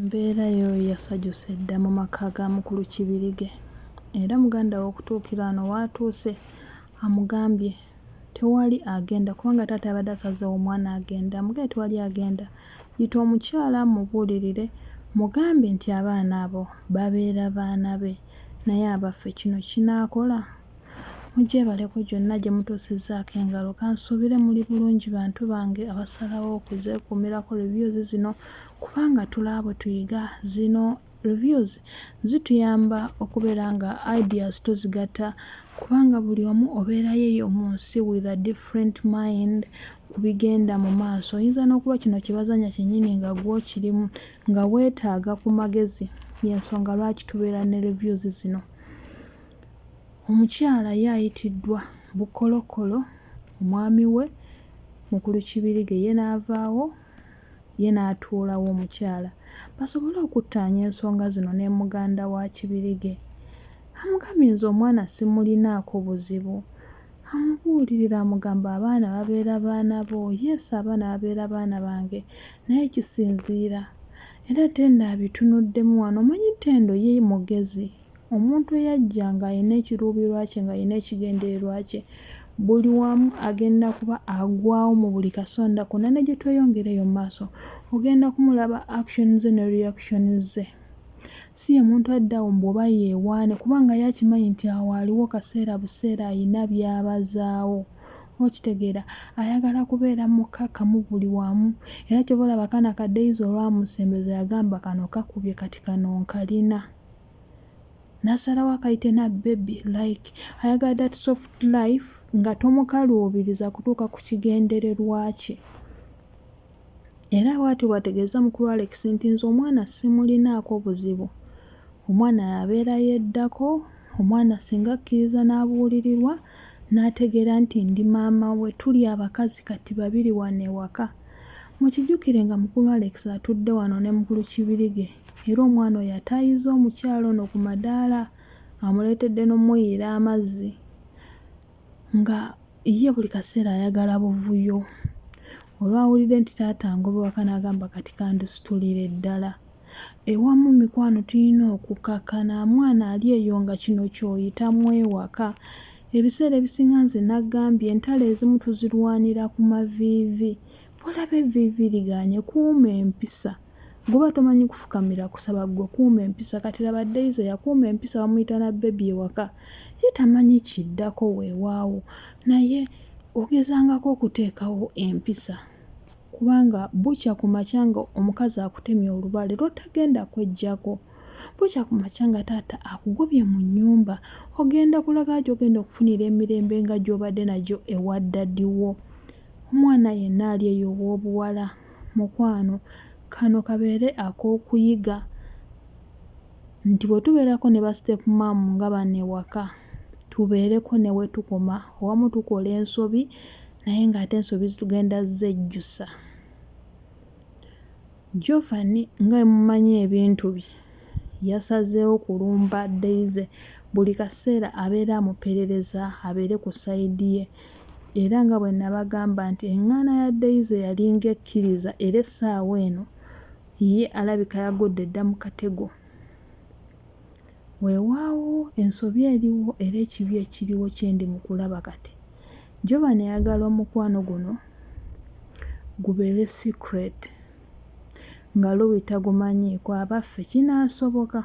Embeera yo yasajuse dda mu maka ga mukulu Kibirige era muganda we okutuukira wano w'atuuse amugambye tewali agenda kubanga taata yabadde asazeewo omwana agende amugambye tewali agenda yita omukyala mubuulirire mugambe nti abaana abo babeera baana be naye abaffe kino kinaakola? Mujebaleko gyonna gye mutuusizzaako engalo. Kansuubire muli bulungi bantu bange abasalawo okuzeekuumirako reviews zino kubanga tulaba bwe tuyiga. Zino reviews zituyamba okubeera nga ideas tuzigatta kubanga buli omu obeera yeeyo mu nsi with a different mind ku bigenda mu maaso. Oyinza n'okuba kino kye bazannya kyennyini nga gw'okirimu nga weetaaga ku magezi y'ensonga lwaki tubeera ne reviews zino. Omukyala ye ayitiddwa Bukolokkolo, omwami we Mukulu Kibirige ye n'avaawo ye n'atuulawo omukyala basobole okuttaanya ensonga zino nemuganda wa Kibirige amugambye nze omwana simulinaako buzibu amubuulirira amugamba abaana babeera baana bo yes abaana babeera baana bange naye kisinziira era Tendo abitunuddemu wano omanyi Tendo ye mugezi Omuntu eyajja ng'alina ekiruubirirwa kye, ng'alina ekigendererwa kye, buli wamu agenda kuba agwawo mu buli kasonda konna. Ne gye tweyongera eyo mu maaso, ogenda kumulaba action ze ne reaction ze. Si ye muntu adda awo mbu oba yeewaane kubanga ye akimanyi nti awo aliwo kaseera buseera alina by'abazaawo. Okitegeera? Ayagala kubeera mukkakkamu buli wamu. Era ky'ova olaba kano akadde Izo olwamusembeza yagamba kano kakubye kati kano nkalina. nasalawo akayite na bebi like ayagala that soft life nga tomukaluubiriza kutuuka ku kigendererwa kye era bwati bwategeeza mukulu alex nti nze omwana simulinaako buzibu omwana yabeera yeddako omwana singa akkiriza n'abuulirirwa n'ategeera nti ndi maama we tuli abakazi kati babiri wano ewaka Mukijjukire nga mukulu Alex atudde wano ne mukulu Kibirige era omwana oyo ataayizza omukyala ono ku madaala amuleetedde n'omuyiira amazzi nga ye buli kaseera ayagala buvuyo. Olwawulidde nti taata angoba waka n'agamba kati kandisitulire ddala. Ewamu mikwano tulina okukkakkana mwana ali eyo nga kino ky'oyitamu ewaka. Ebiseera ebisinga nze nagambye entalo ezimu tuzirwanira ku maviivi. Bw'olaba evviivi ligaanye kuuma empisa. Bw'oba tomanyi kufukamira kusaba ggwe kuuma empisa. Kati laba Daisy yakuuma empisa bamuyita na bbebi ewaka. Ye tamanyi kiddako weewaawo naye ogezangako okuteekawo empisa. Kubanga bukya ku makya nga omukazi akutemye olubale lwotagenda kwejjako. Bukya ku makya nga taata akugobye mu nnyumba. Ogenda kulaga gyogenda okufunira emirembe nga gyobadde nagyo ewa daddy wo. Omwana yenna ali eyo ow'obuwala mukwano kano kabeere ak'okuyiga nti bwetubeerako ne ba step mom nga bano ewaka tubeereko newetukoma owamu tukola ensobi. naye ng'ate ensobi zitugenda zejjusa jovani nga emumanyi ebintu bye yasazeewo kulumba deize buli kaseera abeera amuperereza abeere ku sayidi ye era nga bwe nabagamba nti eŋŋaana ya deize yalinga ekkiriza era essaawa eno ye alabika yagudde dda mu katego Weewaawo, ensobi eriwo era ekibi ekiriwo kye ndi mu kulaba kati. Jovan ayagala omukwano guno gubeere secret, nga Lui tagumanyiiko. Abaffe, kinaasoboka?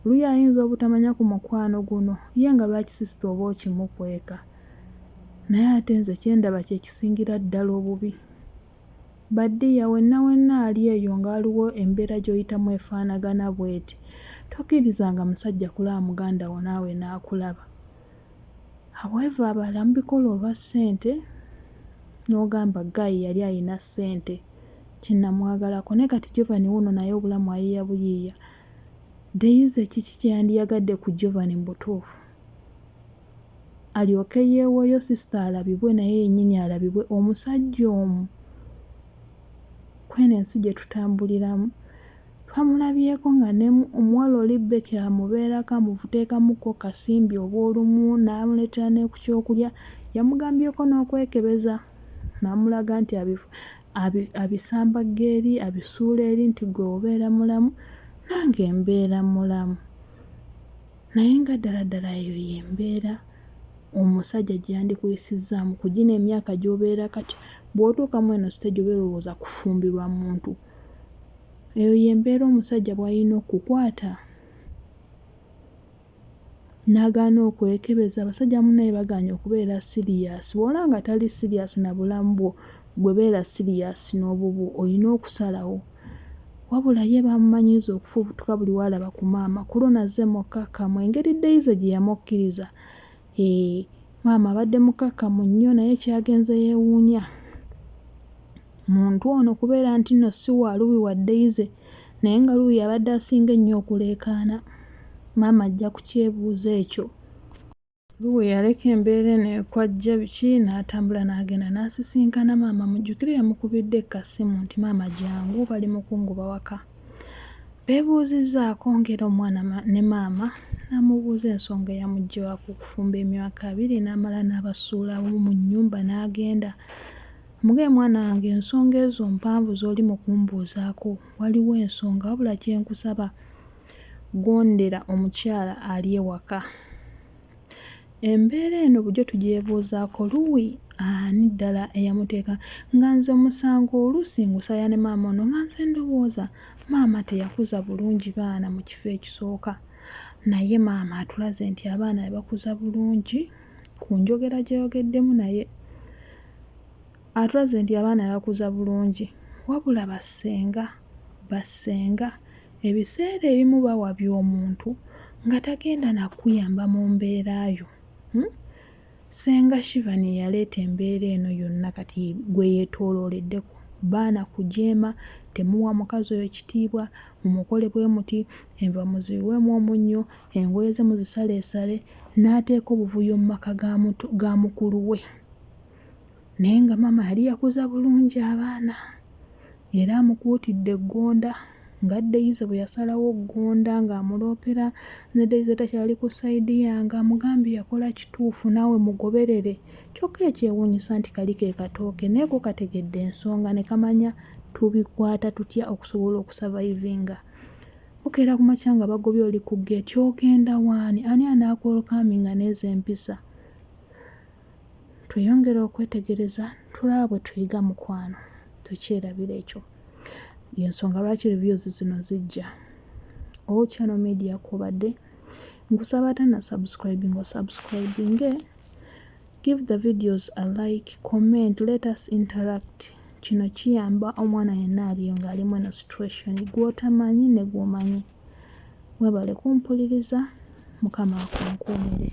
Lui ayinza obutamanya ku mukwano guno? Ye nga lwaki sisita oba okimukweka? Naye ate nze kye ndaba kye kisingira ddala obubi. Ba dear wenna wenna ali eyo nga waliwo embera joyitamu efanagana bweti tokirizanga musajja kulaba mugandawo naawe nakulaba however abalala mubikola olwa sente nogamba guy yali ayina sente kyenamwagalako naye kati Jovan wuuno naye obulamu ayiya buyiiya Daisy kiki kyeyandiyagadde ku Jovan mubutuufu. alyoke yewoyo sister alabibwe naye yenyini alabibwe omusajja omu kweno ensi gyetutambuliramu twamulabyeko nga ne omuwala oli Becky amubeerako amuteekamuko kasimbi obwolumu namuletera nekukyokulya yamugambyeko nokwekebeza namulaga nti abisamba geeri abisuula eri nti gwe obeera mulamu nange mbeera mulamu. Naye nga ddala ddala eyo y'embeera omusajja gye yandikuyisizzaamu ku gino emyaka gy'obeera kati? Bw'otuuka mu eno siteegi oba erowooza kufumbirwa muntu. Eyo y'embeera omusajja bw'alina okukwata n'agaana okwekebeza. Abasajja bannaye bagaanye okubeera siriyasi. Bw'olaba nga tali siriyasi na bulamu bwo, Gwe beera siriyaasi n'obubwo olina okusalawo. Wabula ye baamumanyiiza okufubutuka buli w'alaba ku maama ku luno azze mukkakkamu engeri Daisy gye yamukkiriza. Hee, maama abadde mukkakkamu nnyo naye ky'agenze yeewuunya muntu ono kubeera nti nno si wa Luwi wa Daisy naye nga Luwi y'abadde asinga ennyo okuleekaana. Maama ajja kukyebuuza ekyo. Luwe yaleka embeera eno ekwajja biki n'atambula n'agenda n'asisinkana maama Mujjukire yamukubidde ekkasimu nti maama jangu bali mu kungoba waka. Beebuuzizzaako ng'era omwana ne maama n'amubuuza ensonga eyamujja waka okufumba emyaka abiri n'amala n'abasuulawo mu nnyumba n'agenda. Muge mwana wange ensonga ezo mpanvu z'oli mu kumbuuzaako waliwo ensonga wabula kye nkusaba Gondera omukyala ali ewaka. Embeera eno bujo tugyebuuzaako luuyi ani ddala eyamuteeka nga nze omusango oluusi ngusaya ne maama ono nga nze ndowooza maama teyakuza bulungi baana mu kifo ekisooka naye maama atulaze nti abaana yabakuza bulungi ku njogera gye yogeddemu naye atulaze nti abaana yabakuza bulungi wabula bassenga bassenga ebiseera ebimu bawabya omuntu nga tagenda na kukuyamba mu mbeera yo. Ssenga Shivan ye yaleeta embeera eno yonna kati gwe yeetoolooleddeko. Baana kujeema, temuwa mukazi oyo kitiibwa, mumukole bwe muti, enva muziyiwemu omunnyo, engoye ze muzisaleesale n'ateeka obuvuyo mu maka ga muto ga mukulu we. Naye nga maama yali yakuza bulungi abaana Era amukuutidde Ggonda nga Daisy bwe yasalawo Ggonda ng'amuloopera ne Daisy takyali ku sayidi yange amugambye yakola kituufu naawe mugoberere kyokka ekyewuunyisa nti kali ke katooke naye ko kategedde ensonga ne kamanya tubikwata tutya okusobola okusavayivinga. Bukeera ku makya nga bagobye oli ku geeti ogenda waani ani anaakuwelkaaminga n'ezo empisa? Tweyongere okwetegereza tulaba bwe tuyiga mukwano tukyerabira ekyo yensonga lwaki reviews zino zijja o oh, channel media kwobadde nkusaba ate na subscribing o subscribing eh? give the videos a like comment let us interact kino kiyamba omwana yenna aliyo ng'alimu eno situation gw'otamanyi ne gw'omanyi webale kumpuliriza mukama akunkuumire